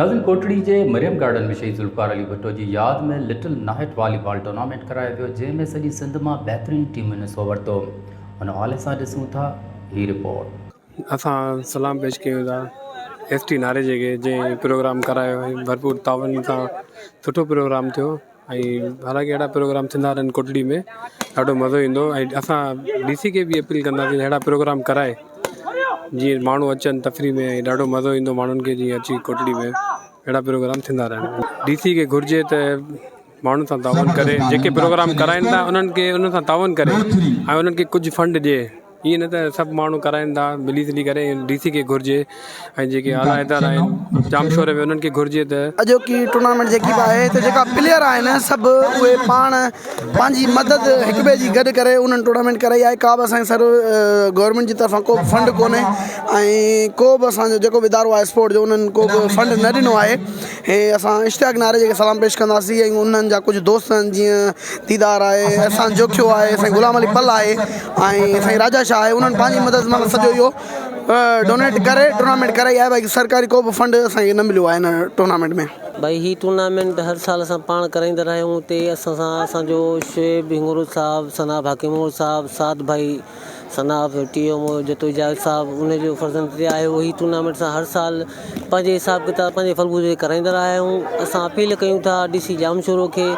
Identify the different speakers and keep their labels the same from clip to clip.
Speaker 1: ناظرين ڪوٽڙي جي مريم گارڊن ۾ شهيد ذوالفقار علي ڀٽو جي ياد ۾ لٽل ناهٽ والي بال ٽورنامينٽ ڪرايو ويو جنهن ۾ سڄي سنڌ مان بهترين ٽيمن حصو ورتو ان حوالي سان ڏسون ٿا هي رپورٽ اسان سلام
Speaker 2: پيش ڪيون ٿا ايس ٽي ناريجي کي جنهن پروگرام ڪرايو ۽ ڀرپور تعاون سان سٺو پروگرام ٿيو ۽ حالانڪه اهڙا پروگرام ٿيندا رهن ڪوٽڙي ۾ ڏاڍو مزو ايندو ۽ اسان ڊي سي کي به اپيل ڪنداسين اهڙا پروگرام ڪرائي جيئن ماڻهو اچن تفريح ۾ ۽ ڏاڍو مزو ايندو ماڻهن کي جيئن اچي ڪوٽڙي ۾ اهڙا پروگرام ٿيندا رهن ڊي سي کي گهرجي ته ماڻهن سان تعاون ڪري جيڪي پروگرام ڪرائين ٿا انهن کي انهن سان تعاون ڪري ۽ انهن کي ڪجهه فنڊ ڏي ائين نه ته سڀ ماڻهو ڪرائين ٿا ملي جلي ڪري ڊي سي کي گهرجي ۽ جيڪي اعليٰ ادارا آهن ڄامشوري ۾ انهن کي گهرجي ته. اڄوڪي ٽورنامينٽ جيڪي
Speaker 3: به آهي ته جيڪا پليئر آهن سڀ اهي پاڻ پنهنجي مدد هڪ ٻئي جي گڏ ڪري انهن ٽورنامينٽ ڪرائي آهي ڪا به اسان جي سر گورنمينٽ جي طرفان ڪو به فنڊ ڪونهي ۽ ڪو به اسان جو جيڪو به ادارو آهي اسپورٽ جو انهن ڪو به فنڊ نه ڏنو آهي هي اسان اشتياق ناريجي کي سلام پيش ڪنداسين ۽ انهن جا ڪجهه دوست آهن جيئن ديدار آهي، احسان جوکيو آهي، سائين غلام علي پل آهي ۽ سائين راجا شاهه آهي انهن پنهنجي مدد مان سڄو اهو ڊونيٽ ڪري ٽورنامينٽ ڪرائي آهي باقي سرڪاري ڪو به فنڊ اسان کي نه مليو آهي هن ٽورنامينٽ ۾. ڀائي هي ٽورنامينٽ
Speaker 4: هر سال اسان پاڻ ڪرائيندا رهيا آهيون اتي اسان سان اسان جو شعيب هڱورو صاحب ثناب حاڪم هنگورو صاحب سعد ڀائي ثناء پيو ٽي ايم او جدوجاهد صاحب ان جو فرزند ھتي آيو ھي ٽورنامينٽ اسان ھر سال پنهنجي حساب ڪتاب پنهنجي فلگو تي ڪرائيندا رھيا آھيون اسان اپيل ڪيون ٿا ڊي سي ڄامشورو کي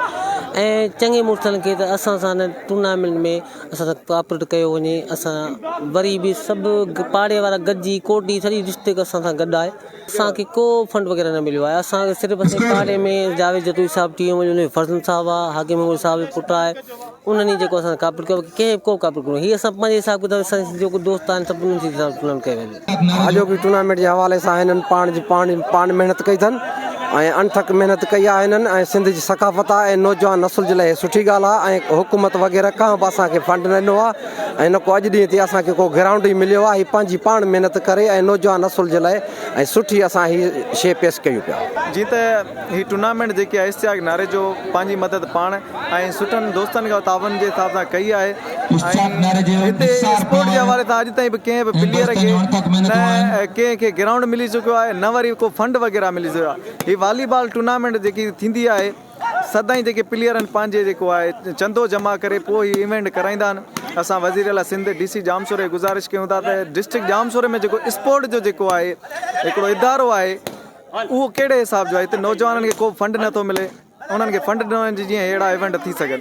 Speaker 4: ۽ چڱي مڙسن کي ته اسان سان ان ٽورنامينٽ ۾ اسان سان ڪوآپريٽ ڪيو وڃي اسان وري به سڀ پاڙي وارا گڏجي ڪوٽ جي سڄي ڊسٽرڪٽ اسان سان گڏ آھي اسان کي ڪو فنڊ وغيره نه مليو آهي اسان کي صرف اسين پارٽي ۾ جاويد جتوئي صاحب ٽي ايم جو فرزند صاحب آ حاڪم مغل صاحب جو پٽ آهي انهن ئي جيڪو اسان ڪاپيٽ ڪيو ڪنهن به ڪو ڪاپيٽ ڪونهي هي اسان پنهنجي حساب ڪتاب سان جو ڪو دوست آهن سڀ انهن جي حساب سان پلان ڪيو ويندو آجوڪي ٽورنامينٽ جي
Speaker 5: حوالي سان هنن پاڻ جي پاڻ پاڻ محنت ڪئي اٿن ۽ انٿڪ محنت ڪئي آهي هنن ۽ سنڌ جي ثقافت آ ۽ نوجوان نسل جي لاء هي سٺي ڳالهه آ ۽ حڪومت وغيره ڪانه به اسان کي فنڊ نه ڏنو آ ۽ نه ڪو اڄ ڏينهن تي اسان کي ڪو گرائونڊ ئي مليو آهي هي پنهنجي پاڻ محنت ڪري ۽ نوجوان نسل جي لاء ۽ سٺي اسان هي شي پيش ڪيون پيا. جيئن ته هي
Speaker 6: ٽورنامينٽ جيڪي آهي اشتياق ناريجو پنهنجي مدد پاڻ ۽ سٺن دوستن کان تعاون جي حساب سان ڪئي آهي ۽ هتي اسپورٽ جي حوالي سان اڄ تائين به ڪنهن به پليئر کي نه ڪنهن کي گرائونڊ ملي چڪو آهي نه وري ڪو فنڊ وغيره ملي سگهيو آهي هي والي بال ٽورنامينٽ جيڪي ٿيندي آهي سدائين جيڪي پليئر آهن پنهنجي جيڪو آهي چندو جمع ڪري پوء هي ايونٽ ڪرائيندا آهن اسان وزير اعليٰ سنڌ ڊي سي ڄامشوري کي گذارش ڪيون ٿا ته ڊسٽرڪٽ ڄامشوري ۾ جيڪو اسپورٽ جو جيڪو آهي هڪڙو ادارو آهي اهو ڪهڙي حساب جو آهي هتي نوجوانن کي ڪو به فنڊ نٿو ملي انهن کي فنڊ ڏنو وڃي جيئن اهڙا ايونٽ ٿي سگهن.